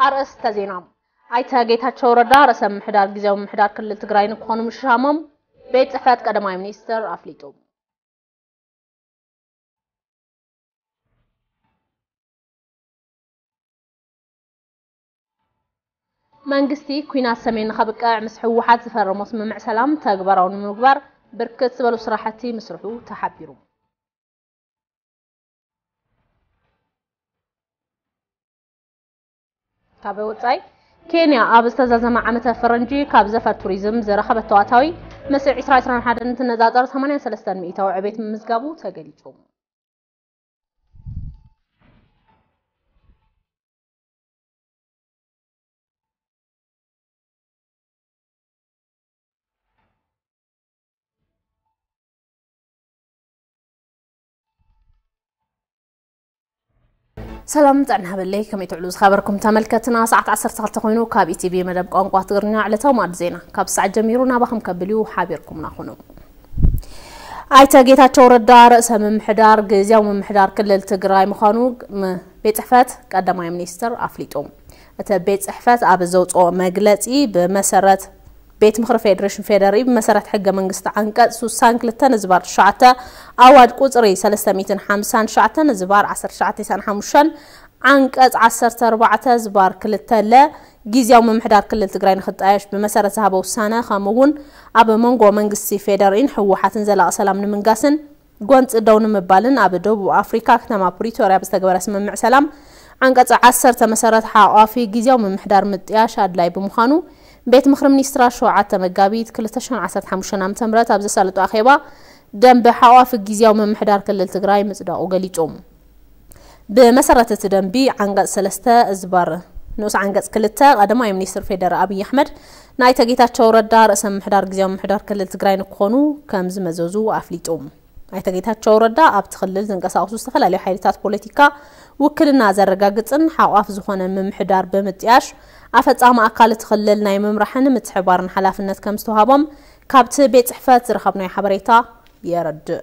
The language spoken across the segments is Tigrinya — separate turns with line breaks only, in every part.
ኣርእስተ ዜና ኣይተ ጌታቸው ረዳ ርእሰ ምሕዳር ግዜያዊ ምሕዳር ክልል ትግራይ ንክኾኑ ምሽሻሞም ቤት ጽሕፈት ቀዳማይ ሚኒስትር ኣፍሊጡ። መንግስቲ ኲናት ሰሜን ንኸብቅዕ ምስ ህወሓት ዝፈረሞ ስምምዕ ሰላም ተግባራዊ ንምግባር ብርክት ዝበሉ ስራሕቲ ምስርሑ ተሓቢሩ። ካብ ወፃኢ ኬንያ ኣብ ዝተዛዘመ ዓመተ ፈረንጂ ካብ ዘፈር ቱሪዝም ዝረኸበቶ ኣታዊ ምስ 2021 እንትነፃፀር 83 ሚእታዊ ዕቤት ምምዝጋቡ ተገሊፁ። ሰላም ጥዕና ሃበለይ ከመይ ትዕሉ ዝኸበርኩም ተመልከትና ሰዓት 12 ኮይኑ ካብ ኢቲቪ መደብ ቋንቋ ትግርኛ ዕለታዊ ማዕድ ዜና ካብ ሰዓት ጀሚሩ ናባኹም ከብል እዩ ሓቢርኩምና ኹኑ ኣይተ ጌታቸው ረዳ ርእሰ ምምሕዳር ግዜያዊ ምምሕዳር ክልል ትግራይ ምዃኑ ቤት ፅሕፈት ቀዳማይ ሚኒስትር ኣፍሊጡ። እቲ ቤት ፅሕፈት ኣብ ዘውፅኦ መግለፂ ብመሰረት ቤት ምኽሪ ፌዴሬሽን ፌዴሪኢ ብመሰረት ሕገ መንግስቲ ዓንቀፅ ሱሳን ክልተ ንዝባር ትሽዓተ ኣዋጅ ቁፅሪ ሰለስተ ሚእትን ሓምሳን ትሽዓተ ንዝባር ዓሰርተ ትሽዓተ ኢሳን ሓሙሽተን ዓንቀፅ ዓሰርተ ኣርባዕተ ዝባር ክልተ ለ ጊዜያዊ ምምሕዳር ክልል ትግራይ ንክጣየሽ ብመሰረት ዝሃቦ ውሳነ ከምኡ እውን ኣብ መንጎ መንግስቲ ፌዴሪኢን ህወሓትን ዘላቒ ሰላም ንምንጋስን ጎንፂ ደው ንምባልን ኣብ ደቡብ ኣፍሪካ ክተማ ፕሪቶርያ ብዝተገበረ ስምምዕ ሰላም ዓንቀፅ ዓሰርተ መሰረት ሓቛፊ ጊዚያዊ ምምሕዳር ምጥያሽ ኣድላይ ብምዃኑ ቤት ምኽሪ ሚኒስትራት ሸውዓተ መጋቢት ክልተ ሽሕን ዓሰርተ ሓሙሽተን ዓመተ ምህረት ኣብ ዘሳለጦ ኣኼባ ደንበ ሓቛፊ ጊዚያዊ ምምሕዳር ክልል ትግራይ ምፅዳቑ ገሊፁ። ብመሰረት እቲ ደንቢ ዓንቀፅ ሰለስተ እዝባር ንኡስ ዓንቀፅ ክልተ ቀዳማይ ሚኒስትር ፌደራ ኣብይ ኣሕመድ ናይተ ጌታቸው ረዳ ርእሰ ምሕዳር ግዜያዊ ምሕዳር ክልል ትግራይ ንክኾኑ ከም ዝመዘዙ ኣፍሊጡ። ኣይተ ጌታቸው ረዳ ኣብቲ ክልል ዝንቀሳቐሱ ዝተፈላለዩ ሓይልታት ፖለቲካ ውክልና ዘረጋግፅን ሓቋፍ ዝኾነ ምምሕዳር ብምጥያሽ ኣፈፃሚ ኣካል እቲ ክልል ናይ ምምራሕን ምትሕባርን ሓላፍነት ከም ዝተውሃቦም ካብቲ ቤት ፅሕፈት ዝረኸብናዮ ሓበሬታ የረድእ።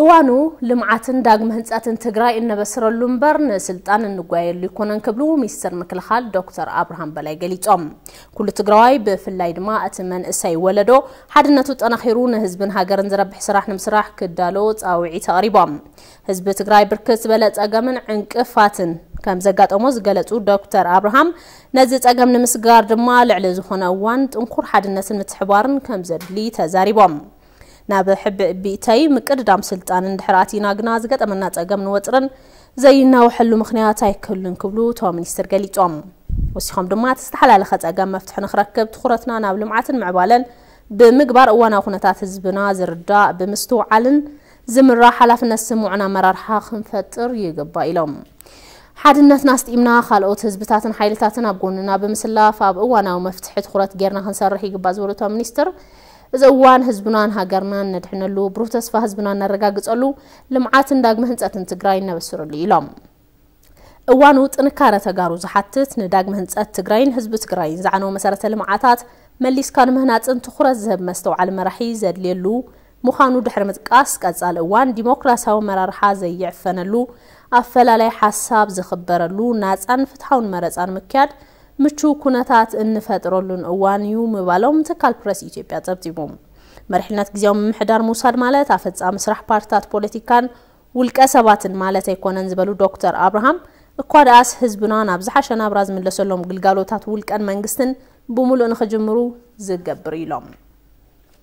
እዋኑ ልምዓትን ዳግመ ህንፀትን ትግራይ እነበስረሉ እምበር ንስልጣን እንጓየሉ ይኮነን ክብሉ ሚኒስትር ምክልኻል ዶክተር ኣብርሃም በላይ ገሊፆም። ኩሉ ትግራዋይ ብፍላይ ድማ እቲ መንእሰይ ወለዶ ሓድነቱ ጠናኺሩ ንህዝብን ሃገርን ዝረብሕ ስራሕ ንምስራሕ ክዳሎ ፃውዒት ኣቕሪቦም። ህዝቢ ትግራይ ብርክት ዝበለ ፀገምን ዕንቅፋትን ከም ዘጋጠሞ ዝገለፁ ዶክተር ኣብርሃም ነዚ ፀገም ንምስጋር ድማ ልዕሊ ዝኾነ እዋን ጥንኩር ሓድነትን ምትሕባርን ከም ዘድሊ ተዛሪቦም። ናብ ሕብእቢእተይ ምቅድዳም ስልጣን እንድሕር ኣቲና ግና ዝገጠመና ጸገምን ወጥርን ዘይናወሐሉ ምኽንያት ኣይክህሉን ክብሉ እቶም ሚኒስትር ገሊጾም። ወሲኾም ድማ እቲ ዝተሓላለኸ ጸገም መፍትሒ ንክረክብ ትኹረትና ናብ ልምዓትን ምዕባለን ብምግባር እዋናዊ ኩነታት ህዝብና ዝርዳእ ብምስትውዓልን ዝምራሕ ሓላፍነት ዝስምዖን ኣመራርሓ ክንፈጥር ይግባእ ኢሎም። ሓድነትና ኣስጢምና ካልኦት ህዝብታትን ሓይልታትን ኣብ ጎንና ብምስላፍ ኣብ እዋናዊ መፍትሒ ትኹረት ጌርና ክንሰርሕ ይግባእ ዝበሉ እቶም ሚኒስትር እዚ እዋን ህዝብናን ሃገርናን ነድሕነሉ፣ ብሩህ ተስፋ ህዝብና እነረጋግፀሉ፣ ልምዓትን ዳግመ ህንፀትን ትግራይ እነበስረሉ እዩ ኢሎም። እዋኑ ጥንካረ ተጋሩ ዝሓትት ንዳግመ ህንፀት ትግራይን ህዝቢ ትግራይን ዝዓነወ መሰረተ ልምዓታት መሊስካ ንምህናፅን ትኹረት ዝህብ መስተውዓሊ መራሒ ዘድልየሉ ምዃኑ ድሕሪ ምጥቃስ፣ ቀፃሊ እዋን ዲሞክራሲያዊ ኣመራርሓ ዘይዕፈነሉ፣ ኣፈላላይ ሓሳብ ዝኽበረሉ፣ ናፃን ፍትሓውን መረፃ ንምክያድ ምቹው ኩነታት እንፈጥረሉን እዋን እዩ ምባሎም ትካል ፕረስ ኢትዮጵያ ፀብፂቡ። መሪሕነት ግዝያዊ ምምሕዳር ምውሳድ ማለት ኣፈፃሚ ስራሕ ፓርቲታት ፖለቲካን ውልቀ ሰባትን ማለት ኣይኮነን ዝበሉ ዶክተር ኣብርሃም፣ እኳ ደኣስ ህዝብና ናብ ዝሓሸ ናብራ ዝምለሰሎም ግልጋሎታት ውልቀን መንግስትን ብሙሉእ ንኽጅምሩ ዝገብር እዩ ኢሎም።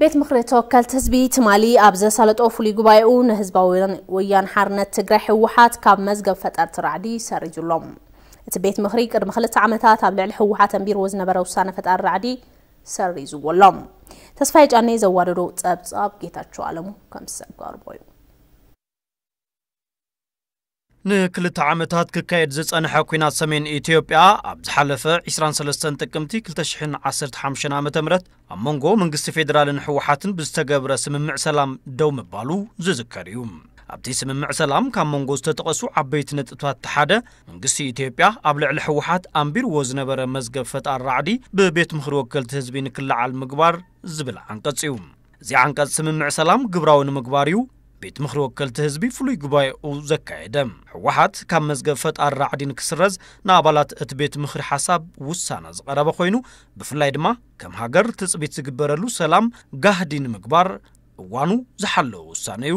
ቤት ምክሪ ተወከልቲ ህዝቢ ትማሊ ኣብ ዘሳለጦ ፍሉይ ጉባኤኡ ንህዝባዊ ወያን ሓርነት ትግራይ ህወሓት ካብ መዝገብ ፈጠርቲ ራዕዲ ሰሪዙሎም እቲ ቤት ምክሪ ቅድሚ ክልተ ዓመታት ኣብ ልዕሊ ህወሓት ኣንቢርዎ ዝነበረ ውሳነ ፈጣሪ ራዕዲ ሰሪዝዎ ኣሎ ተስፋይ ጫኔ ዘዋደዶ ፀብፃብ ጌታቸው ኣለሙ ከም ዝሰጋርቦ እዩ
ንክልተ ዓመታት ክካየድ ዝጸንሐ ኲናት ሰሜን ኢትዮጵያ ኣብ ዝሓለፈ ዕስራን ሰለስተን ጥቅምቲ ክልተ ሽሕን ዓሰርተ ሓሙሽተን ዓመተ ምህረት ኣብ መንጎ መንግስቲ ፌደራልን ህወሓትን ብዝተገብረ ስምምዕ ሰላም ደው ምባሉ ዝዝከር እዩ። ኣብቲ ስምምዕ ሰላም ካብ መንጎ ዝተጠቐሱ ዓበይቲ ነጥብታት እቲ ሓደ መንግስቲ ኢትዮጵያ ኣብ ልዕሊ ህወሓት ኣንቢርዎ ዝነበረ መዝገብ ፈጣር ራዕዲ ብቤት ምኽሪ ወከልቲ ህዝቢ ንክለዓል ምግባር ዝብል ዓንቀጽ እዩ። እዚ ዓንቀፅ ስምምዕ ሰላም ግብራዊ ንምግባር እዩ ቤት ምኽሪ ወከልቲ ህዝቢ ፍሉይ ጉባኤኡ ዘካየደ። ህወሓት ካብ መዝገብ ፈጣሪ ራዕዲ ንክስረዝ ንኣባላት እቲ ቤት ምኽሪ ሓሳብ ውሳነ ዝቐረበ ኮይኑ ብፍላይ ድማ ከም ሃገር ትፅቢት ዝግበረሉ ሰላም ጋህዲ ንምግባር እዋኑ ዝሓለወ ውሳነ እዩ።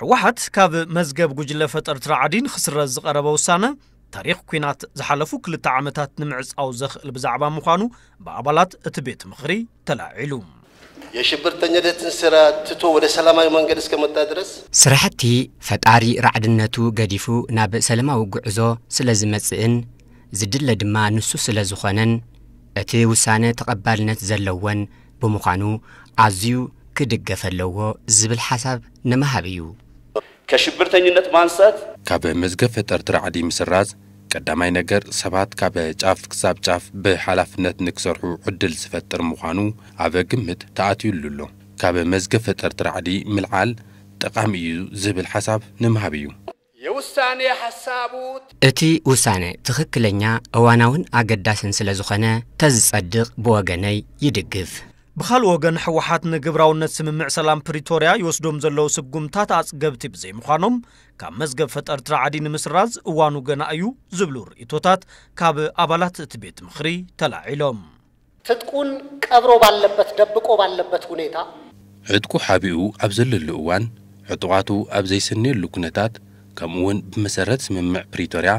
ህወሓት
ካብ መዝገብ ጉጅለ ፈጠርቲ ራዕዲ ንክስረዝ ዝቐረበ ውሳነ፣ ታሪኽ ኲናት ዝሓለፉ ክልተ ዓመታት ንምዕጻው ዘኽእል ብዛዕባ ምዃኑ ብኣባላት እቲ ቤት ምኽሪ ተላዒሉ። የሽብርተኛደትን
ስራ ትቶ ወደ ሰላማዊ መንገድ እስከመጣ ድረስ። ስራሕቲ
ፈጣሪ ራዕድነቱ ገዲፉ ናብ ሰለማዊ ጉዕዞ ስለዝመጽእን ዝድለ ድማ ንሱ ስለዝኾነን እቲ ውሳነ ተቐባልነት ዘለዎን ብምዃኑ ኣዝዩ ክድገፍ ኣለዎ ዝብል ሓሳብ ንምሃብ እዩ። ከሽብርተኝነት
ማንሰት። ካብ መዝገብ
ፈጠርቲ ራዕዲ ምስራዝ ቀዳማይ ነገር ሰባት ካብ ጫፍ ክሳብ ጫፍ ብሓላፍነት ንክሰርሑ ዕድል ዝፈጥር ምዃኑ ኣብ ግምት ተኣትዩሉ ኣሎ። ካብ መዝገብ ፈጠርቲ ራዕዲ ምልዓል ጠቓሚ እዩ ዝብል ሓሳብ ንምሃብ እዩ። የውሳኔ
ሓሳቡ ት። እቲ
ውሳነ ትኽክለኛ፣ እዋናውን ኣገዳስን ስለዝኾነ ተዝጸድቕ ብወገነይ ይድግፍ። ብኻልእ ወገን
ህወሓት ንግብራውነት ስምምዕ ሰላም ፕሪቶርያ ይወስዶም ዘለዉ ስጉምትታት ኣፅገብቲ ብዘይምዃኖም ካብ መዝገብ ፈጠርቲ ራዕዲ ንምስራዝ እዋኑ ገና እዩ ዝብሉ ርእይቶታት ካብ ኣባላት እቲ ቤት ምኽሪ ተላዒሎም። ትጥቁን
ቀብሮ ባለበት ደብቆ ባለበት ሁኔታ። ዕጥቁ ሓቢኡ
ኣብ ዘለሉ እዋን፣ ዕጡቓቱ ኣብ ዘይሰንየሉ ኩነታት፣ ከምኡ'ውን ብመሰረት ስምምዕ ፕሪቶርያ፣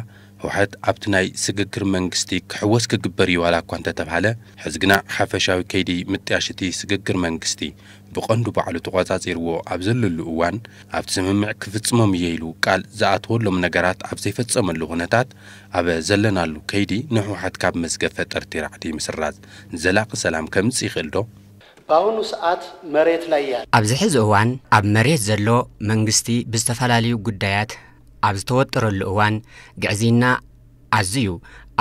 ህውሓት ኣብቲ ናይ ስግግር መንግስቲ ክሕወስ ክግበር እዩ ዋላ'ኳ እንተተብሃለ፣ ሕዚ ግና ሓፈሻዊ ከይዲ ምጥያሽ'ቲ ስግግር መንግስቲ ብቐንዱ ባዕሉ ተቖጻጺርዎ ኣብ ዘለሉ እዋን፣ ኣብቲ ስምምዕ ክፍጽሞም እየ ኢሉ ቃል ዝኣተወሎም ነገራት ኣብ ዘይፈጸመሉ ኩነታት፣ ኣብ ዘለናሉ ከይዲ ንሕውሓት ካብ መዝገብ ፈጠርቲ ራዕዲ ምስራዝ ዘላቂ ሰላም ከምፅእ ይኽእል ዶ? በአሁኑ
ሰዓት መሬት ላይ ያለ። ኣብዚ ሕዚ እዋን
ኣብ መሬት ዘሎ መንግስቲ ብዝተፈላለዩ ጉዳያት ኣብ ዝተወጠረሉ እዋን፣ ግዕዝይና ኣዝዩ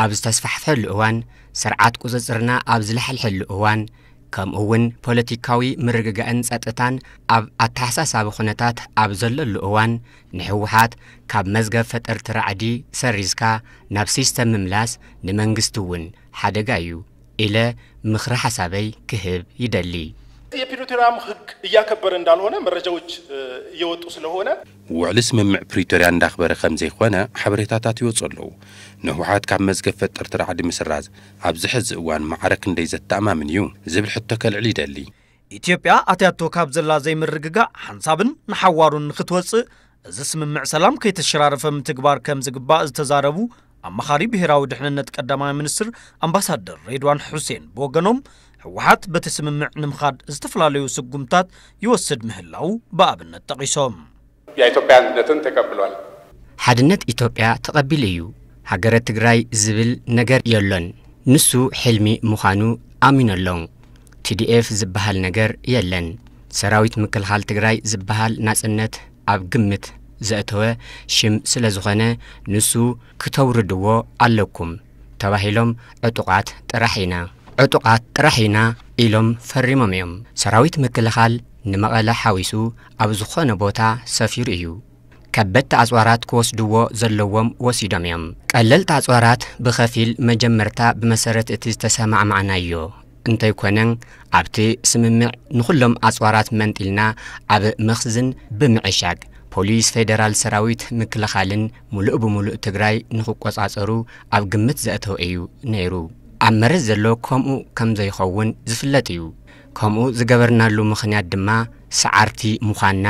ኣብ ዝተስፋሕፍሐሉ እዋን፣ ስርዓት ቁፅፅርና ኣብ ዝላሕልሐሉ እዋን ከምኡ እውን ፖለቲካዊ ምርግጋእን ፀጥታን ኣብ ኣተሓሳሳቢ ኩነታት ኣብ ዘለሉ እዋን ንሕወሓት ካብ መዝገብ ፈጠርቲ ራዕዲ ሰሪዝካ ናብ ሲስተም ምምላስ ንመንግስቲ እውን ሓደጋ እዩ ኢለ ምኽረ ሓሳበይ ክህብ ይደሊ። የፒሪቶሪያም
ህግ እያከበረ እንዳልሆነ መረጃዎች እየወጡ ስለሆነ። ውዕሊ ስምምዕ
ፕሪቶሪያ እንዳኽበረ ከምዘይኾነ ሓበሬታታት ይወፁ ኣለው። ንህወሓት ካብ መዝገብ ፈጠርቲ ራዕዲ ምስራዝ ኣብዚ ሐዚ እዋን ማዕረ ክንደይ ዘተኣማምን እዩ ዝብል ሕቶ ከልዕል ይደሊ። ኢትዮጵያ
ኣትያቶ ካብ ዘላ ዘይምርግጋእ ሓንሳብን ንሓዋሩን ንክትወፅእ እዚ ስምምዕ ሰላም ከይተሸራረፈ ምትግባር ከምዝግባእ ዝተዛረቡ ኣማኻሪ ብሄራዊ ድሕንነት ቀዳማይ ሚኒስትር ኣምባሳደር ሬድዋን ሑሴን ብወገኖም ህወሓት በቲ ስምምዕ ንምኻድ ዝተፈላለዩ ስጉምትታት ይወስድ ምህላዉ ብኣብነት ጠቒሶም። ያ ኢትዮጵያ
ኣንድነትን ተቀብሏል። ሓድነት
ኢትዮጵያ ተቐቢሉ እዩ ሃገረ ትግራይ ዝብል ነገር የሎን ንሱ ሕልሚ ምዃኑ ኣሚኑ ኣሎ ቲዲኤፍ ዝብሃል ነገር የለን ሰራዊት ምክልኻል ትግራይ ዝብሃል ናጽነት ኣብ ግምት ዘእተወ ሽም ስለዝኾነ ንሱ ክተውርድዎ ኣለኩም ተባሂሎም ዕጡቓት ጥራሕ ኢና ዕጡቓት ጥራሕ ኢና ኢሎም ፈሪሞም እዮም ሰራዊት ምክልኻል ንመቐለ ሓዊሱ ኣብ ዝኾነ ቦታ ሰፊሩ እዩ። ከበድቲ ኣጽዋራት ክወስድዎ ዘለዎም ወሲዶም እዮም። ቀለልቲ ኣጽዋራት ብኸፊል መጀመርታ ብመሰረት እቲ ዝተሰማዕማዕናዮ እንተይኮነ ኣብቲ ስምምዕ ንኹሎም ኣጽዋራት መንጢልና ኣብ መኽዝን ብምዕሻግ ፖሊስ ፌደራል ሰራዊት ምክልኻልን ሙሉእ ብሙሉእ ትግራይ ንክቆፃፀሩ ኣብ ግምት ዘእተወ እዩ ነይሩ። ኣብ መሬት ዘሎ ከምኡ ከምዘይኸውን ዝፍለጥ እዩ። ከምኡ ዝገበርናሉ ምኽንያት ድማ ሰዓርቲ ምዃንና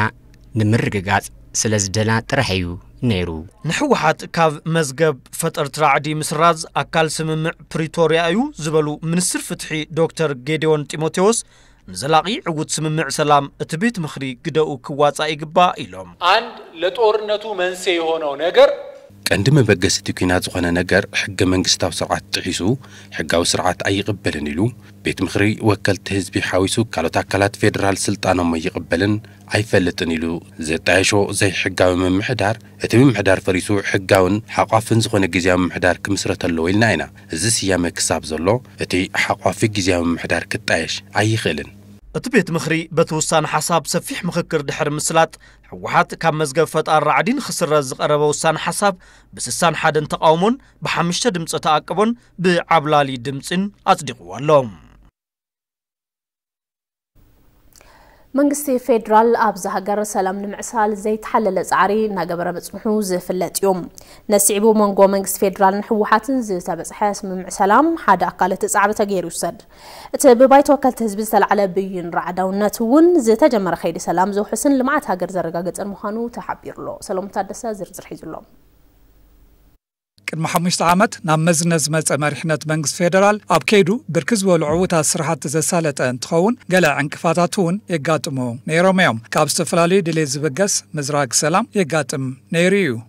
ንምርግጋጽ ስለዝደና ጥራሕ እዩ ነይሩ። ንህወሓት ካብ
መዝገብ ፈጠርቲ ራዕዲ ምስራዝ ኣካል ስምምዕ ፕሪቶርያ እዩ ዝበሉ ሚኒስትር ፍትሒ ዶክተር ጌዴዎን ጢሞቴዎስ፣ ንዘላቒ ዕዉት ስምምዕ ሰላም እቲ ቤት ምኽሪ ግደኡ ክዋፃእ ይግባእ ኢሎም። አንድ ለጦርነቱ
መንሴ የሆነው ነገር ቀንዲ መበገሲ
እቲ ኲናት ዝኾነ ነገር ሕገ መንግስታዊ ስርዓት ጥሒሱ ሕጋዊ ስርዓት ኣይቕበልን ኢሉ ቤት ምኽሪ ወከልቲ ህዝቢ ሓዊሱ ካልኦት ኣካላት ፌደራል ስልጣኖም ኣይቕበልን ኣይፈልጥን ኢሉ ዘጣየሾ ዘይሕጋዊ ምምሕዳር እቲ ምምሕዳር ፈሪሱ ሕጋውን ሓቋፍን ዝኾነ ግዝያዊ ምምሕዳር ክምስረት ኣለዎ ኢልና ኢና። እዚ ስያመ ክሳብ ዘሎ እቲ ሓቋፊ ግዝያዊ ምምሕዳር ክጣየሽ ኣይኽእልን። እቲ ቤት ምኽሪ
በቲ ውሳነ ሓሳብ ሰፊሕ ምኽክር ድሕሪ ምስላጥ ህወሓት ካብ መዝገብ ፈጣር ራዕዲ ንክስረዝ ዝቐረበ ውሳነ ሓሳብ ብስሳን ሓደን ተቓውሞን ብሓምሽተ ድምፀ ተኣቅቦን ብዓብላሊ ድምፂን ኣጽዲቕዎ ኣሎ።
መንግስቲ ፌዴራል ኣብዛ ሃገር ሰላም ንምዕሳል ዘይተሓለለ ጻዕሪ እናገበረ ምጽንሑ ዝፍለጥ እዩ። ነሲዕቡ መንጎ መንግስቲ ፌዴራልን ህወሓትን ዝተበጽሐ ስምምዕ ሰላም ሓደ ኣካል እቲ ጻዕሪ ተገይሩ ይውሰድ። እቲ ብባይቶ ወከልቲ ህዝቢ ዝተላዕለ ብይን ራዕዳውነት እውን ዝተጀመረ ከይዲ ሰላም ዘውሕስን ልምዓት ሃገር ዘረጋግፅን ምዃኑ ተሓቢሩ'ሎ። ሰሎሙን ታደሰ ዝርዝር ሒዙ'ሎ።
ቅድሚ ሓሙሽተ ዓመት ናብ መዝነት ዝመፀ መሪሕነት መንግስቲ ፌደራል ኣብ ከይዱ ብርክት ዝበሉ ዕዉታት ስራሕቲ ዘሳለጠ እንትኸውን ገለ ዕንቅፋታት እውን የጋጥሙ ነይሮም እዮም። ካብ ዝተፈላለዩ ድሌት ዝብገስ ምዝራግ ሰላም የጋጥም ነይሩ እዩ።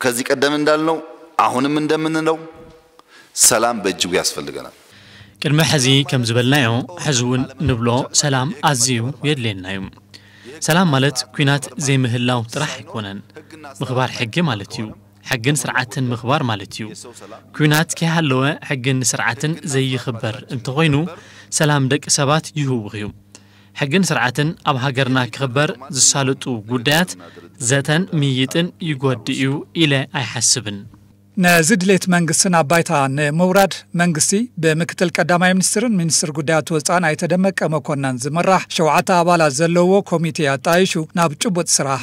ከዚህ ቀደም
እንዳልነው አሁንም እንደምንለው ሰላም በእጅጉ ያስፈልገናል። ቅድሚ ሕዚ
ከም ዝበልናዮ ሕዚ እውን ንብሎ ሰላም ኣዝዩ የድልየና እዩ። ሰላም ማለት ኲናት ዘይምህላው ጥራሕ ኣይኮነን። ምኽባር ሕጊ ማለት እዩ። ሕግን ስርዓትን ምኽባር ማለት እዩ። ኲናት ከይሃለወ ሕግን ስርዓትን ዘይኽበር እንተኾይኑ ሰላም ደቂ ሰባት ይህውኽ እዩ። ሕግን ስርዓትን ኣብ ሃገርና ክኽበር ዝሳልጡ ጉዳያት ዘተን ምይይጥን ይጎድእ እዩ ኢለ ኣይሓስብን። ነዚ
ድሌት መንግስቲ ናብ ባይታ ንምውራድ መንግስቲ ብምክትል ቀዳማይ ሚኒስትርን ሚኒስትር ጉዳያት ወፃእን ኣይተ ደመቀ መኮነን ዝምራሕ ሸውዓተ ኣባላት ዘለዉዎ ኮሚቴ ኣጣይሹ ናብ ጭቡጥ ስራሕ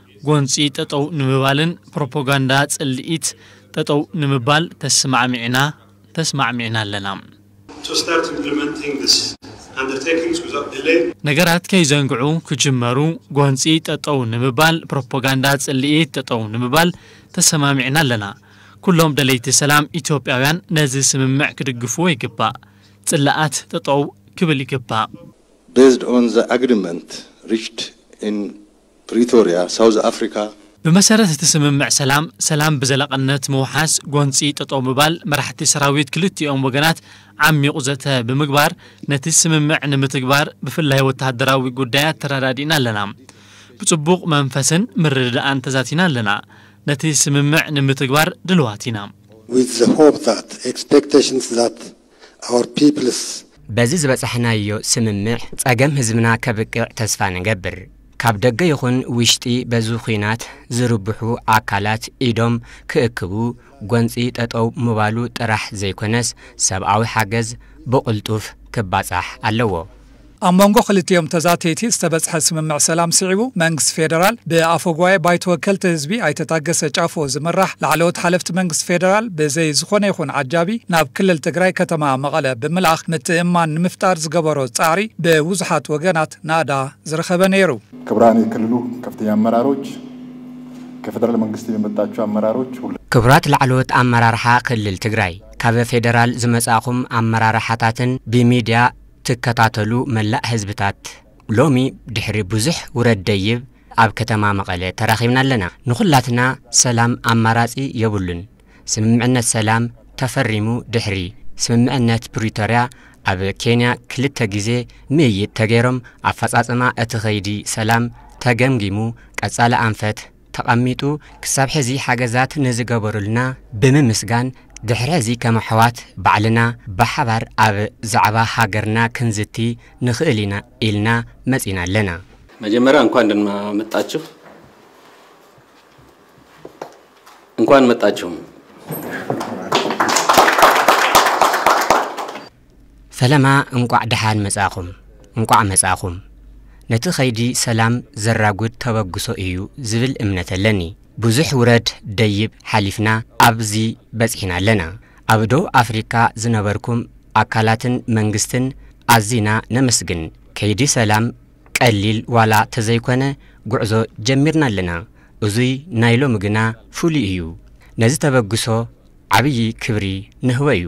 ጎንፂ ጠጠው ንምባልን ፕሮፖጋንዳ ፅልኢት ጠጠው ንምባል ተስማዕሚዕና ተስማዕሚዕና ኣለና። to start
implementing this undertakings without delay። ነገራት ከይዘንግዑ
ክጅመሩ ጎንፂ ጠጠው ንምባል ፕሮፖጋንዳ ፅልኢት ጠጠው ንምባል ተሰማሚዕና ኣለና። ኩሎም ደለይቲ ሰላም ኢትዮጵያውያን ነዚ ስምምዕ ክድግፍዎ ይግባእ። ፅላኣት ጠጠው ክብል ይግባእ። Based
on the agreement reached in ፕሪቶርያ፣ ሳውዝ ኣፍሪካ። ብመሰረት እቲ
ስምምዕ ሰላም፣ ሰላም ብዘላቕነት ምውሓስ፣ ጎንፂ ጠጠው ምባል፣ መራሕቲ ሰራዊት ክልቲኦም ወገናት ዓሚቝ ዘተ ብምግባር ነቲ ስምምዕ ንምትግባር ብፍላይ ወታሃደራዊ ጉዳያት ተረዳዲእና ኣለና። ብፅቡቕ መንፈስን ምርድዳእን ተዛቲና ኣለና። ነቲ ስምምዕ ንምትግባር ድልዋት ኢና። with the
hope that expectations that our peoples። በዚ
ዝበጻሕናዮ ስምምዕ ጸገም ህዝብና ከብቅዕ ተስፋ ንገብር። ካብ ደገ ይኹን ውሽጢ በዚ ኹናት ዝርብሑ ኣካላት ኢዶም ክእክቡ፣ ጎንጺ ጠጠው ምባሉ ጥራሕ ዘይኮነስ ሰብኣዊ ሓገዝ ብቕልጡፍ ክባጻሕ ኣለዎ። ኣብ
መንጎ ክልቲኦም ተዛተይቲ ዝተበጽሐ ስምምዕ ሰላም ስዒቡ፣ መንግስቲ ፌደራል ብኣፈጉባኤ ባይቶ ወከልቲ ህዝቢ ኣይተ ታገሰ ጫፎ ዝምራሕ ላዕለዎት ሓለፍቲ መንግስቲ ፌደራል ብዘይ ዝኾነ ይኹን ዓጃቢ ናብ ክልል ትግራይ ከተማ መቐለ ብምልኣኽ ምትእምማን ንምፍጣር ዝገበሮ ጻዕሪ ብብዙሓት ወገናት ናእዳ ዝረኸበ ነይሩ። ክብራን የክልሉ
ከፍተኛ ኣመራሮች፣ ከፌደራል መንግስቲ የመጣቹ ኣመራሮች፣ ሁላ። ክቡራት ላዕለዎት
ኣመራርሓ ክልል ትግራይ፣ ካብ ፌደራል ዝመጻእኹም ኣመራርሓታትን ብሚድያ፣ ትከታተሉ መላእ ህዝብታት ሎሚ ድሕሪ ብዙሕ ውረድ ደይብ ኣብ ከተማ መቐለ ተራኺብና ኣለና። ንኹላትና ሰላም ኣማራጺ የብሉን። ስምምዕነት ሰላም ተፈሪሙ ድሕሪ ስምምዕነት ፕሪቶርያ ኣብ ኬንያ ክልተ ግዜ ምይይጥ ተገይሮም ኣፈፃፅማ እቲ ከይዲ ሰላም ተገምጊሙ ቀፃሊ ኣንፈት ተቐሚጡ ክሳብ ሕዚ ሓገዛት ንዝገበሩልና ብምምስጋን ድሕሪ ሕዚ ከም ኣሕዋት ባዕልና ብሓባር ኣብ ዛዕባ ሃገርና ክንዝቲ ንኽእል ኢና ኢልና መጺና ኣለና። መጀመርያ እንኳን
ደህና መጣችሁ እንኳን መጣችሁም።
ፈለማ እንቋዕ ደሓን መጻእኹም እንቋዕ መጻእኹም። ነቲ ከይዲ ሰላም ዘራጉድ ተበግሶ ኢዩ ዝብል እምነት ኣለኒ። ብዙሕ ውረድ ደይብ ሓሊፍና ኣብዚ በጺሕና ኣለና። ኣብ ደቡብ ኣፍሪካ ዝነበርኩም ኣካላትን መንግስትን ኣዚና ነመስግን። ከይዲ ሰላም ቀሊል ዋላ ተዘይኮነ ጉዕዞ ጀሚርና ኣለና። እዙይ ናይ ሎሚ ግና ፍሉይ ኢዩ። ነዚ ተበግሶ ዓብዪ ክብሪ ንህቦ ኢዩ።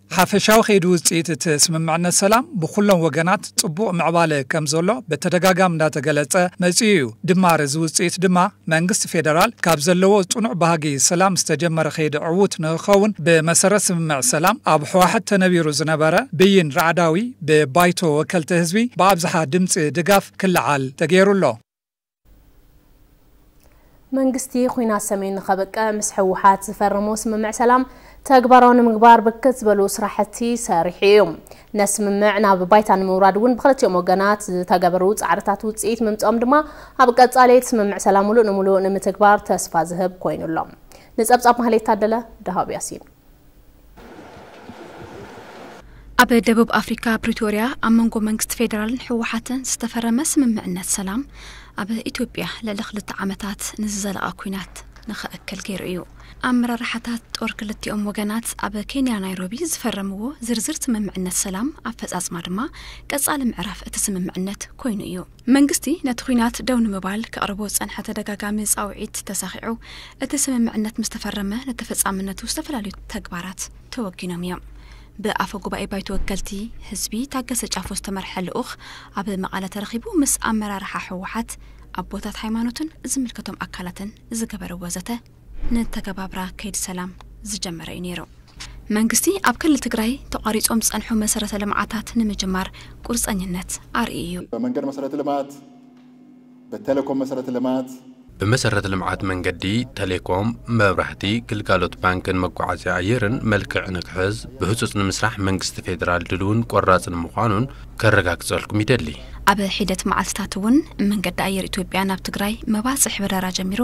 ሓፈሻዊ ከይዲ ውፅኢት እቲ ስምምዕነት ሰላም ብኹሎም ወገናት ፅቡቕ ምዕባለ ከምዘሎ በተደጋጋሚ እንዳተገለፀ መፂኡ ዩ። ድማር እዚ ውፅኢት ድማ መንግስቲ ፌደራል ካብ ዘለዎ ፅኑዕ ባህጊ ሰላም ዝተጀመረ ከይዲ ዕዉት ንክኸውን ብመሰረት ስምምዕ ሰላም ኣብ ህዋሕት ተነቢሩ ዝነበረ ብይን ራዕዳዊ ብባይቶ ወከልቲ ህዝቢ ብኣብዝሓ ድምፂ ድጋፍ ክለዓል ተገይሩ ኣሎ።
መንግስቲ ኹናት ሰሜን ንኸብቅዕ ምስ ህወሓት ዝፈረሞ ስምምዕ ሰላም ተግባራዊ ንምግባር ብርክት ዝበሉ ስራሕቲ ሰሪሑ እዩ። ነቲ ስምምዕ ናብ ባይታ ንምውራድ እውን ብክልቲኦም ወገናት ዝተገበሩ ፃዕርታት ውፅኢት ምምፅኦም ድማ ኣብ ቀፃሊ እቲ ስምምዕ ሰላም ሙሉእ ንሙሉእ ንምትግባር ተስፋ ዝህብ ኮይኑ ኣሎ። ንፀብፃብ ማህሌት ታደለ፣ ደሃብ ያሲን
ኣብ ደቡብ ኣፍሪካ ፕሪቶርያ ኣብ መንጎ መንግስቲ ፌዴራልን ህወሓትን ዝተፈረመ ስምምዕነት ሰላም ኣብ ኢትዮጵያ ልዕሊ ክልተ ዓመታት ንዝዘለቐ ኩናት ንኸእክል ገይሩ እዩ። ኣመራርሓታት ጦር ክልቲኦም ወገናት ኣብ ኬንያ ናይሮቢ ዝፈረምዎ ዝርዝር ስምምዕነት ሰላም ኣፈጻጽማ ድማ ቀጻሊ ምዕራፍ እቲ ስምምዕነት ኮይኑ እዩ። መንግስቲ ነቲ ኲናት ደው ንምባል ከቕርቦ ዝጸንሐ ተደጋጋሚ ጻውዒት ተሳኺዑ እቲ ስምምዕነት ምስ ተፈረመ ንተፈጻምነቱ ዝተፈላለዩ ተግባራት ተወጊኖም እዮም። ብኣፈ ጉባኤ ባይቶ ወከልቲ ህዝቢ ታገሰ ጫፎ ዝተመርሐ ልኡኽ ኣብ መቐለ ተረኺቡ ምስ ኣመራርሓ ህወሓት፣ ኣቦታት ሃይማኖትን ዝምልከቶም ኣካላትን ዝገበርዎ ዘተ ነተገባብራ ከይዲ ሰላም ዝጀመረ እዩ ነይሩ። መንግስቲ ኣብ ክልል ትግራይ ተቋሪፆም ዝፀንሑ መሰረተ ልምዓታት ንምጅማር ቁርፀኝነት ኣርእዩ እዩ። በመንገድ መሰረተ
ልማት፣ በቴሌኮም መሰረተ ልማት፣ ብመሰረተ ልምዓት
መንገዲ፣ ተሌኮም፣ መብራህቲ፣ ግልጋሎት ባንክን መጓዓዝያ ኣየርን መልክዕ ንክሕዝ ብህፁፅ ንምስራሕ መንግስቲ ፌዴራል ድልውን ቆራፅን ምዃኑን ከረጋግጸልኩም ይደሊ። ኣብ ሒደት
መዓልትታት እውን መንገዲ ኣየር ኢትዮጵያ ናብ ትግራይ መባፅሕ በረራ ጀሚሩ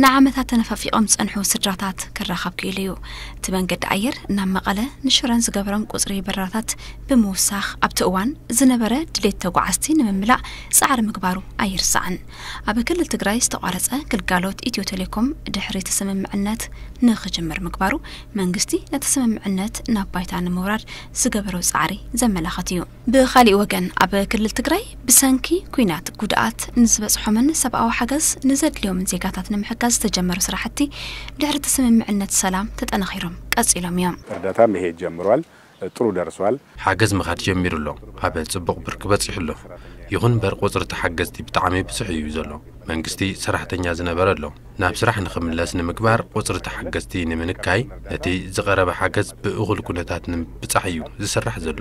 ንዓመታት ተነፋፊቖም ዝፀንሑ ስድራታት ክራኸብ ክኢሉ እዩ። እቲ መንገዲ ኣየር ናብ መቐለ ንሽረን ዝገበሮም ቁፅሪ በረራታት ብምውሳኽ ኣብቲ እዋን ዝነበረ ድሌት ተጓዓዝቲ ንምምላእ ፃዕሪ ምግባሩ ኣይርሳዕን። ኣብ ክልል ትግራይ ዝተቋረፀ ግልጋሎት ኢትዮ ቴሌኮም ድሕሪ እቲ ስምምዕነት ንክጅምር ምግባሩ መንግስቲ ነቲ ስምምዕነት ናብ ባይታ ንምውራድ ዝገበሮ ፃዕሪ ዘመላኽት እዩ። ብኻሊእ ወገን ኣብ ክልል ትግራይ ብሰንኪ ኲናት ጉድኣት ንዝበፅሖምን ሰብኣዊ ሓገዝ ንዘድልዮምን ዜጋታት ንምሕጋዝ ዝተጀመሩ ስራሕቲ ድሕሪ እቲ
ስምምዕነት
ሰላም ተጠናኺሮም ቀፂሎም እዮም። እርዳታ መሄድ
ጀምሯል ጥሩ ደርሷል። ሓገዝ ምኻድ
ጀሚሩ ኣሎ ኣብ ፅቡቕ ብርኪ በፂሑ ኣሎ ይኹን ምበር ቁፅሪ ተሓገዝቲ ብጣዕሚ ብዙሕ እዩ ዘሎ መንግስቲ ሰራሕተኛ ዝነበረ ኣሎ። ናብ ስራሕ ንኽምለስ ንምግባር ቁፅሪ ተሓገዝቲ ንምንካይ ነቲ ዝቐረበ ሓገዝ ብእኹል ኩነታት ንምብፃሕ እዩ ዝስራሕ ዘሎ።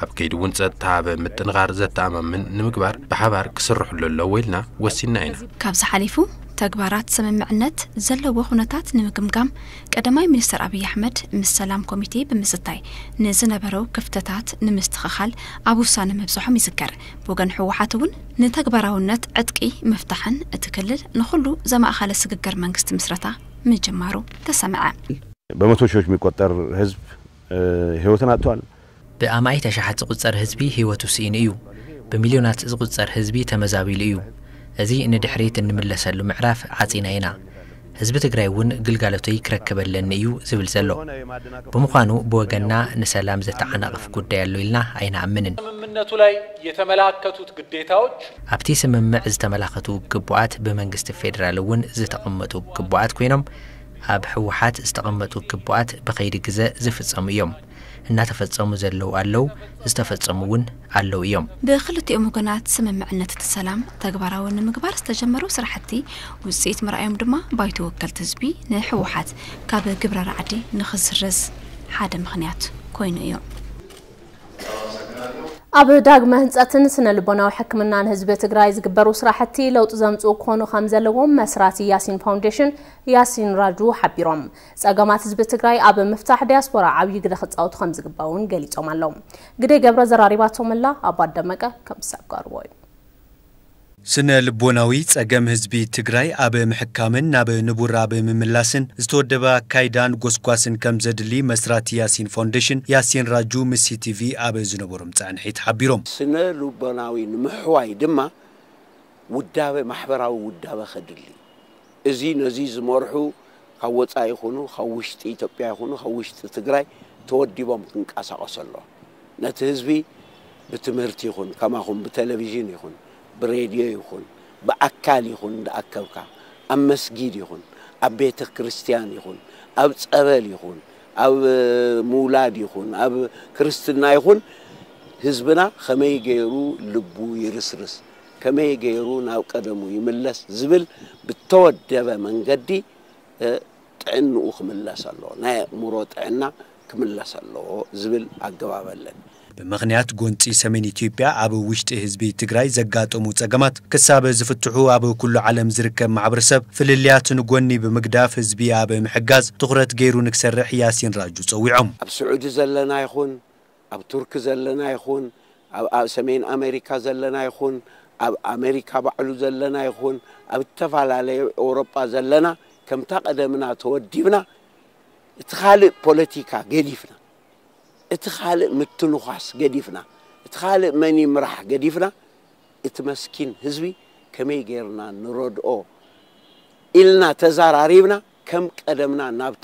ኣብ ከይዲ እውን ፀጥታ ብ ምጥንኻር ዘተኣማምን ንምግባር ብሓባር ክስርሕሉ ኣለዎ ኢልና ወሲንና ኢና። ካብዚ ሓሊፉ
ተግባራት ስምምዕነት ዘለዎ ኩነታት ንምግምጋም ቀዳማይ ሚኒስትር ኣብይ ኣሕመድ ምስ ሰላም ኮሚቴ ብምዝታይ ንዝነበረው ክፍተታት ንምስትኽኻል ኣብ ውሳነ ምብፅሖም ይዝከር። ብወገን ህወሓት እውን ንተግባራውነት ዕጥቂ ምፍታሕን እቲ ክልል ንኹሉ ዘማእኸለ ስግግር መንግስቲ ምስረታ ምጅማሩ ተሰምዐ። በመቶ
ሺዎች የሚቆጠር ህዝብ ህይወትን አጥቷል። ብኣማኢት ኣሽሓት
ዝቑጸር ህዝቢ ህይወቱ ስኢኑ እዩ። ብሚልዮናት ዝቑጸር ህዝቢ ተመዛቢሉ እዩ። እዚ ንድሕሪት እንምለሰሉ ምዕራፍ ዓጺና ኢና። ህዝቢ ትግራይ እውን ግልጋሎተይ ክረክብ ኣለኒ እዩ ዝብል ዘሎ። ብምዃኑ ብወገንና ንሰላም ዘተዓናቕፍ ጉዳይ ኣሎ ኢልና ኣይንኣምንን። ስምምነቱ ላይ
የተመላከቱት ግዴታዎች። ኣብቲ ስምምዕ
ዝተመላኸቱ ግቡኣት ብመንግስቲ ፌዴራል እውን ዝተቐመጡ ግቡኣት ኮይኖም ኣብ ህወሓት ዝተቐመጡ ግቡኣት ብኸይዲ ግዘ ዝፍፀሙ እዮም። እናተፈፀሙ ዘለዉ ኣለዉ፣ ዝተፈፀሙ እውን ኣለዉ እዮም። ብክልቲኦም ወገናት
ስምምዕነት እቲ ሰላም ተግባራዊ ንምግባር ዝተጀመሩ ስራሕቲ ውፅኢት ምርኣዮም ድማ ባይቶ ወከልቲ ህዝቢ ንህወሓት ካብ ግብረ ራዕዲ ንክስረዝ ሓደ ምኽንያት ኮይኑ እዩ።
ኣብ ዳግመ ህንፀትን ስነ ልቦናዊ ሕክምናን ህዝቢ ትግራይ ዝግበሩ ስራሕቲ ለውጢ ዘምፅኡ ክኾኑ ከምዘለዎም መስራቲ ያሲን ፋውንዴሽን ያሲን ራጁ ሓቢሮም። ፀገማት ህዝቢ ትግራይ ኣብ ምፍታሕ ዲያስፖራ ዓብዪ ግደ ክፃወቱ ከምዝግባእ እውን ገሊፆም ኣለው። ግደይ ገብረ ዘራሪባቶም'ላ፣ ኣባት ደመቀ ከም ዝሰገርዎ እዩ።
ስነ ልቦናዊ ፀገም ህዝቢ ትግራይ ኣብ ምሕካምን ናብ ንቡር ኣብ ምምላስን ዝተወደበ ኣካይዳን ጎስጓስን ከም ዘድሊ መስራቲ ያሲን ፋውንዴሽን ያሲን ራጁ ምስ ሲቲቪ ኣብ ዝነበሮም ፃንሒት ሓቢሮም። ስነ ልቦናዊ
ንምሕዋይ ድማ ውዳበ ማሕበራዊ ውዳበ ከድሊ እዚ ነዚ ዝመርሑ ካብ ወፃኢ ይኹኑ ካብ ውሽጢ ኢትዮጵያ ይኹኑ ካብ ውሽጢ ትግራይ ተወዲቦም ክንቀሳቐሱ ኣለዎ ነቲ ህዝቢ ብትምህርቲ ይኹን ከማኹም ብቴሌቪዥን ይኹን ብሬድዮ ይኹን ብኣካል ይኹን እንዳኣከብካ ኣብ መስጊድ ይኹን ኣብ ቤተ ክርስቲያን ይኹን ኣብ ፀበል ይኹን ኣብ ምውላድ ይኹን ኣብ ክርስትና ይኹን ህዝብና ከመይ ገይሩ ልቡ ይርስርስ ከመይ ገይሩ ናብ ቀደሙ ይምለስ ዝብል ብተወደበ መንገዲ ጥዕንኡ ክምለስ ኣለዎ፣ ናይ ኣእምሮ ጥዕና ክምለስ ኣለዎ ዝብል ኣገባብ ኣለን። ብምኽንያት
ጎንፂ ሰሜን ኢትዮጵያ ኣብ ውሽጢ ህዝቢ ትግራይ ዘጋጠሙ ፀገማት ክሳብ ዝፍትሑ ኣብ ኩሉ ዓለም ዝርከብ ማሕበረሰብ ፍልልያት ንጎኒ ብምግዳፍ ህዝቢ ኣብ ምሕጋዝ ትኹረት ገይሩ ንክሰርሕ ያሲን ራጁ ፀዊዖም። ኣብ ስዑዲ ዘለና
ይኹን ኣብ ቱርኪ ዘለና ይኹን ኣብ ኣብ ሰሜን ኣመሪካ ዘለና ይኹን ኣብ ኣመሪካ ባዕሉ ዘለና ይኹን ኣብ እተፈላለየ ኤውሮጳ ዘለና ከምታ ቀደምና ተወዲብና እቲ ካልእ ፖለቲካ ገዲፍና እቲ ካልእ ምትንዃስ ገዲፍና እቲ ካልእ መን ይምራሕ ገዲፍና እቲ መስኪን ህዝቢ ከመይ ጌርና ንረድኦ ኢልና ተዛራሪብና ከም ቀደምና ናብ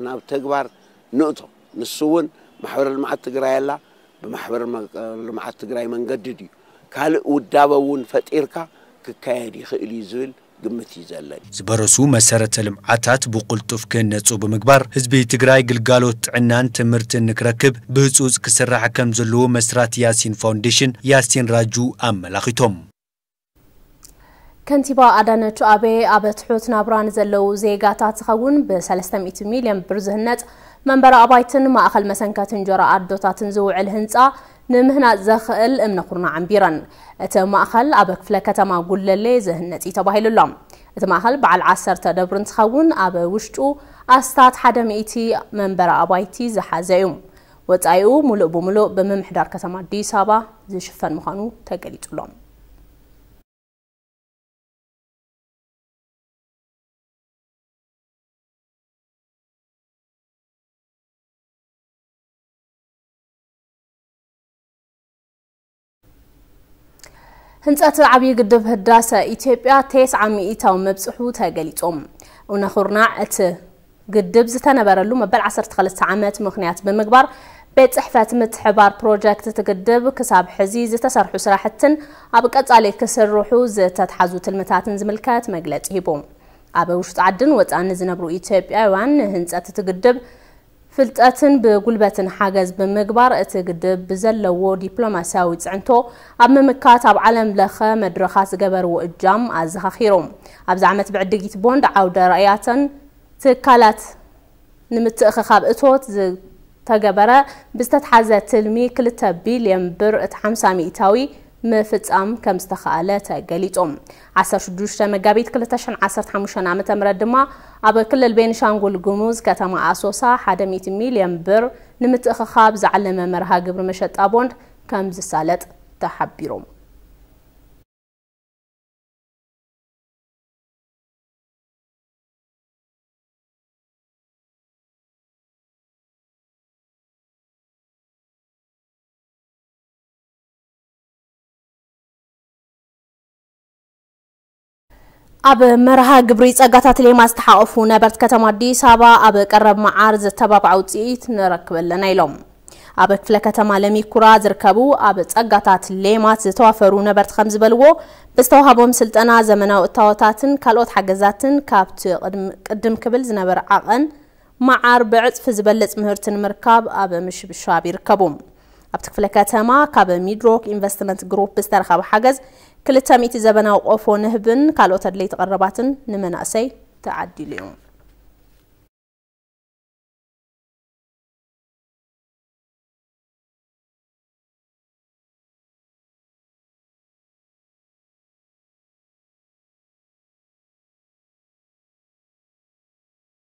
ናብ ተግባር ንእቶ። ንሱ እውን ማሕበር ልምዓት ትግራይ ኣላ፣ ብማሕበር ልምዓት ትግራይ መንገዲ ድዩ ካልእ ውዳበ እውን ፈጢርካ ክካየድ ይኽእል እዩ ዝብል ግምት እዩ ዘለኒ። ዝበረሱ መሰረተ
ልምዓታት ብቕልጡፍ ክህነፁ ብምግባር ህዝቢ ትግራይ ግልጋሎት ጥዕናን ትምህርትን ንክረክብ ብህፁፅ ክስራሕ ከምዘለዎ መስራቲ ያሲን ፋውንዴሽን ያሲን ራጁ ኣመላኺቶም።
ከንቲባ ኣዳነች ኣቤ ኣብ ትሑት ናብራ ንዘለዉ ዜጋታት ዝኸውን ብ300 ሚልዮን ብር ዝህነፅ መንበሪ ኣባይትን ማእኸል መሰንከቲ እንጀራ ኣዶታትን ዝውዕል ህንፃ ንምህናፅ ዘኽእል እምነ ኩርና ዓንቢረን። እቲ ማእኸል ኣብ ክፍለ ከተማ ጉለሌ ዝህነፅ እዩ ተባሂሉ ኣሎ። እቲ ማእኸል በዓል ዓሰርተ ደብሪ እንትኸውን ኣብ ውሽጡ ኣስታት ሓደ ሚእቲ መንበሪ ኣባይቲ ዝሓዘ እዩ። ወፃኢኡ ሙሉእ ብሙሉእ ብምምሕዳር ከተማ ኣዲስ ኣበባ ዝሽፈን ምዃኑ ተገሊፁ ኣሎ። ህንፀት ዓብዪ ግድብ ህዳሰ ኢትዮጵያ ቴስዓ ሚኢታዊ መብፅሑ ተገሊፆም ኡነኹርናዕ እቲ ግድብ ዝተነበረሉ መበል 12 ዓመት ምክንያት ብምግባር ቤት ፅሕፈት ምትሕባር ፕሮጀክት እቲ ግድብ ክሳብ ሕዚ ዝተሰርሑ ስራሕትን ኣብ ቀፃሊ ክስርሑ ዝተትሓዙ ትልምታትን ዝምልከት መግለፂ ሂቡ ኣብ ውሽጢ ዓድን ወፃእን ዝነብሩ ኢትዮጵያውያን ንህንፀት እቲ ግድብ ፍልጠትን ብጉልበትን ሓገዝ ብምግባር እቲ ግድብ ብዘለዎ ዲፕሎማሲያዊ ፅዕንቶ ኣብ ምምካት ኣብ ዓለም ለኸ መድረኻት ዝገበርዎ እጃም ኣዘኻኺሩ። ኣብዚ ዓመት ብዕድጊት ቦንድ ዓውደ ራእያተን ትካላት ንምትእኽኻብ እቶት ዝተገበረ ብዝተትሓዘ ትልሚ ክልተ ቢልየን ብር እቲ ሓምሳ ሚኢታዊ ምፍፃም ከምዝተኸኣለ ተገሊፁ። ዓሰርተ ሽዱሽተ መጋቢት ክልተ ሽሕን ዓሰርተ ሓሙሽተን ዓመተ ምህረት ድማ ኣብ ክልል ቤኒሻንጉል ጉሙዝ ከተማ ኣሶሳ ሓደ ሚእቲ ሚሊየን ብር ንምትእኽኻብ ዝዓለመ መርሃ ግብሪ መሸጣ ቦንድ ከምዝሳለጥ ተሓቢሩ። ኣብ መርሃ ግብሪ ጸጋታት ሌማ ዝተሓቐፉ ነበርቲ ከተማ ኣዲስ ኣበባ ኣብ ቀረብ መዓር ዘተባብዐ ውፅኢት ንረክብ ኣለና ኢሎም። ኣብ ክፍለ ከተማ ለሚኩራ ዝርከቡ ኣብ ጸጋታት ሌማት ዝተዋፈሩ ነበርቲ ከም ዝበልዎ ብዝተዋሃቦም ስልጠና ዘመናዊ እታወታትን ካልኦት ሓገዛትን ካብቲ ቅድም ክብል ዝነበረ ዓቐን መዓር ብዕፅፊ ዝበልፅ ምህርቲ ንምርካብ ኣብ ምሽብሻብ ይርከቡ። ኣብቲ ክፍለ ከተማ ካብ ሚድሮክ ኢንቨስትመንት ግሩፕ ብዝተረኸበ ሓገዝ ክልተ ሚእቲ ዘበናዊ ቆፎ ንህብን ካልኦት ኣድለይቲ ቀረባትን ንመናእሰይ ተዓዲሉ እዩ።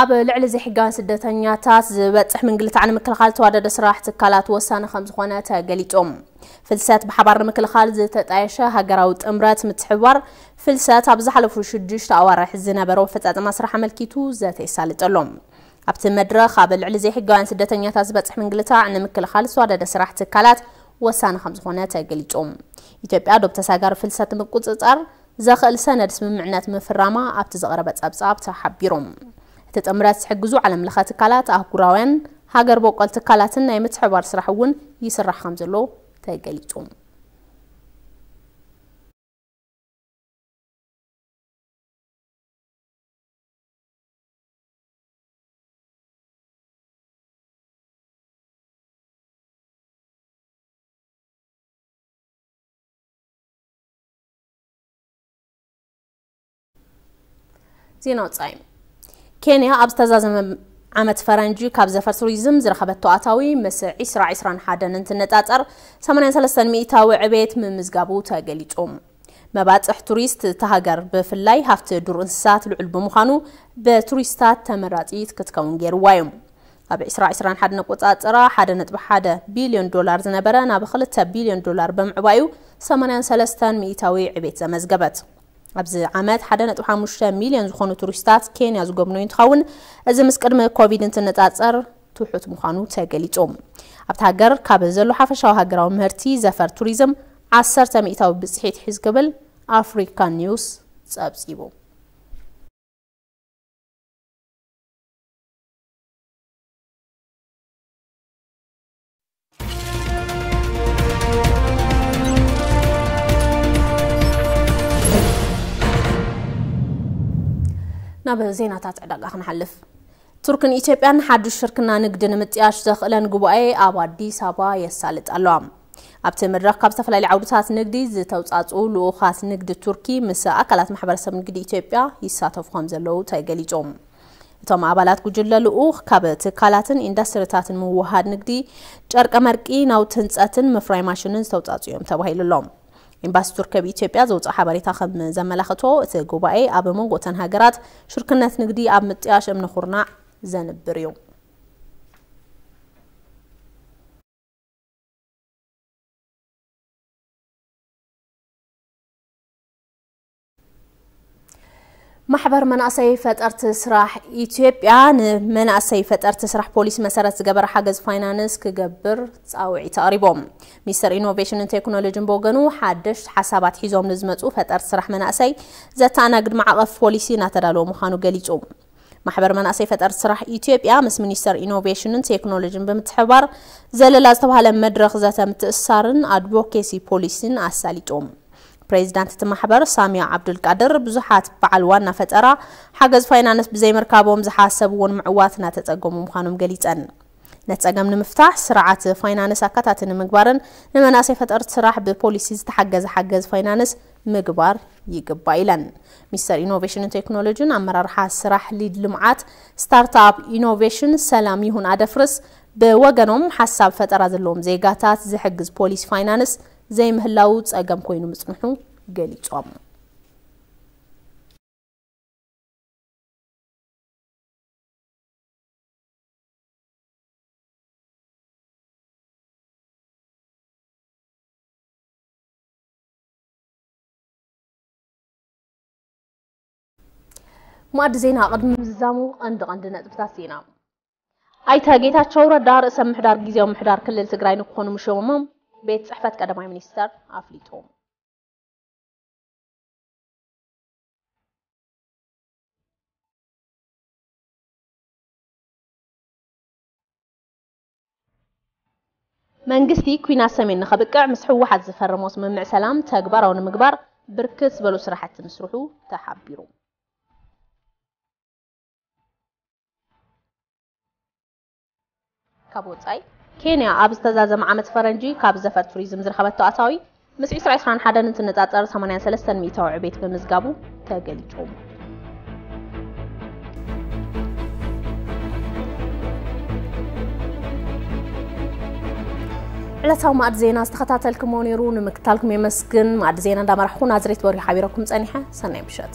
ኣብ ልዕሊ ዘይሕጋውያን ስደተኛታት ዝበፅሕ ምንግልታዕ ንምክልኻል ተዋደደ ስራሕ ትካላት ወሳኒ ከምዝኾነ ተገሊፆም ፍልሰት ብሓባር ንምክልኻል ዝተጣየሸ ሃገራዊ ጥምረት ምትሕብባር ፍልሰት ኣብ ዝሓለፉ ሽዱሽተ ኣዋርሕ ዝነበረ ኣፈፃፅማ ስራሕ ኣመልኪቱ ዘተ ይሳልጠሎም ኣብቲ መድረኽ ኣብ ልዕሊ ዘይሕጋውያን ስደተኛታት ዝበፅሕ ምንግልታዕ ንምክልኻል ዝተዋደደ ስራሕ ትካላት ወሳኒ ከምዝኾነ ተገሊፆም ኢትዮጵያ ዶብ ተሳጋሪ ፍልሰት ንምቁፅፃር ዘኽእል ሰነድ ስምምዕነት ምፍራማ ኣብቲ ዝቐረበ ጸብጻብ ተሓቢሩ። እቲ ጥምረት ዝሕግዙ ዓለምለኸ ትካላት፣ ኣህጉራውያን፣ ሃገር ቦቆል ትካላትን ናይ ምትሕብባር ስራሕ እውን ይስራሕ ከምዘሎ ተገሊጹ። ዜና ወፃኢ ኬንያ ኣብ ዝተዛዘመ ዓመት ፈረንጂ ካብ ዘፈር ቱሪዝም ዝረኸበቶ ኣታዊ ምስ ዒስራ ዒስራን ሓደን እንትነፃፀር 83 ሚእታዊ ዕቤት ምምዝጋቡ ተገሊፁ። መባፅሕ ቱሪስት እታ ሃገር ብፍላይ ሃፍቲ ዱር እንስሳት ልዑል ብምዃኑ ብቱሪስታት ተመራፂት ክትከውን ገይርዋ እዩ። ኣብ ዕስራ ዕስራን ሓደን ኣቆጻጽራ ሓደ ነጥቢ ሓደ ቢልዮን ዶላር ዝነበረ ናብ ክልተ ቢልዮን ዶላር ብምዕባዩ ሰማንያን ሰለስተን ሚኢታዊ ዕቤት ዘመዝገበት። ኣብዚ ዓመት ሓደ ነጥቢ ሓሙሽተ ሚልዮን ዝኾኑ ቱሪስታት ኬንያ ዝጎብነዩ እንትኸውን እዚ ምስ ቅድሚ ኮቪድ እንትነጻጸር ትሑት ምዃኑ ተገሊጹ። ኣብታ ሃገር ካብ ዘሎ ሓፈሻዊ ሃገራዊ ምህርቲ ዘፈር ቱሪዝም ዓሰርተ ሚኢታዊ ብጽሒት ሒዝ ክብል ኣፍሪካ ኒውስ ጸብጺቡ። ናብ ዜናታት ዕዳጋ ክንሓልፍ ቱርክን ኢትዮጵያን ሓዱሽ ሽርክና ንግዲ ንምጥያሽ ዘኽእለን ጉባኤ ኣብ ኣዲስ ኣበባ የሳልጥ ኣለዋ ኣብቲ መድረኽ ካብ ዝተፈላለዩ ዓውድታት ንግዲ ዝተውፃፅኡ ልኡኻት ንግዲ ቱርኪ ምስ ኣካላት ማሕበረሰብ ንግዲ ኢትዮጵያ ይሳተፉ ከም ዘለዉ ተገሊፆም እቶም ኣባላት ጉጅለ ልኡኽ ካብ ትካላትን ኢንዳስትሪታትን ምውህሃድ ንግዲ፣ ጨርቀመርቂ፣ ናውቲ ህንፀትን ምፍራይ ማሽንን ዝተውፃእፅኡ እዮም ተባሂሉ ኣሎ። ኤምባሲ ቱርኪ ኣብ ኢትዮጵያ ዘውፅኦ ሓበሬታ ከም ዘመላኽቶ እቲ ጉባኤ ኣብ መንጎ እተን ሃገራት ሽርክነት ንግዲ ኣብ ምጥያሽ እምነ ኩርናዕ ዘንብር እዩ። ማሕበር መናእሰይ ፈጠርቲ ስራሕ ኢትዮጵያ ንመናእሰይ ፈጠርቲ ስራሕ ፖሊሲ መሰረት ዝገበረ ሓገዝ ፋይናንስ ክገብር ፃውዒት ኣቕሪቦም። ሚኒስትር ኢኖቬሽንን ቴክኖሎጂን ብወገኑ ሓደሽቲ ሓሳባት ሒዞም ንዝመፁ ፈጠርቲ ስራሕ መናእሰይ ዘተኣናግድ ማዕቐፍ ፖሊሲ እናተዳለወ ምዃኑ ገሊፁ። ማሕበር መናእሰይ ፈጠርቲ ስራሕ ኢትዮጵያ ምስ ሚኒስቴር ኢኖቬሽንን ቴክኖሎጂን ብምትሕብባር ዘለላ ዝተባሃለ መድረኽ ዘተ ምትእስሳርን ኣድቮኬሲ ፖሊሲን ኣሳሊጦም። ፕሬዚዳንት እቲ ማሕበር ሳሚያ ዓብዱልቃድር ብዙሓት በዓል ዋና ፈጠራ ሓገዝ ፋይናንስ ብዘይምርካቦም ዝሓሰብዎ ንምዕዋት እናተፀገሙ ምዃኖም ገሊፀን። ነቲ ፀገም ንምፍታሕ ስርዓት ፋይናንስ ኣካታቲ ንምግባርን ንመናእሰይ ፈጠርቲ ስራሕ ብፖሊሲ ዝተሓገዘ ሓገዝ ፋይናንስ ምግባር ይግባእ ኢለን። ሚኒስተር ኢኖቬሽንን ቴክኖሎጂን ኣመራርሓ ስራሕ ሊድ ልምዓት ስታርትኣፕ ኢኖቬሽን ሰላምይሁን ኣደፍርስ ብወገኖም ሓሳብ ፈጠራ ዘለዎም ዜጋታት ዝሕግዝ ፖሊሲ ፋይናንስ ዘይምህላዉ ፀገም ኮይኑ ምፅንሑ ገሊፆም። ማዕዲ ዜና ቅድሚ ምዝዛሙ ቀንዲ ቀንዲ ነጥብታት ዜና ኣይተ ጌታቸው ረዳ ርእሰ ምሕዳር ግዜያዊ ምሕዳር ክልል ትግራይ ንክኾኑ ምሾሞም ቤት ፅሕፈት ቀዳማይ ሚኒስተር ኣፍሊጡ። መንግስቲ ኲናት ሰሜን ንኸብቅዕ ምስ ህወሓት ዝፈረሞ ስምምዕ ሰላም ተግባራዊ ንምግባር ብርክት ዝበሉ ስራሕቲ ምስርሑ ተሓቢሩ። ካብ ወፃኢ ኬንያ ኣብ ዝተዛዘመ ዓመት ፈረንጂ ካብ ዘፈር ቱሪዝም ዝረኸበቶ ኣታዊ ምስ ዕስራ ዕስራን ሓደን እንትነፃፀር ሰማንያን ሰለስተን ሚእታዊ ዕቤት ምምዝጋቡ ተገሊፁ። ዕለታዊ ማእድ ዜና ዝተኸታተልክሞ ነይሩ። ንምክታልኩም የመስግን። ማእድ ዜና እንዳመራሕኹ ናዝሬት በሪሁ ሓቢረኩም ፀኒሐ። ሰናይ ምሸት።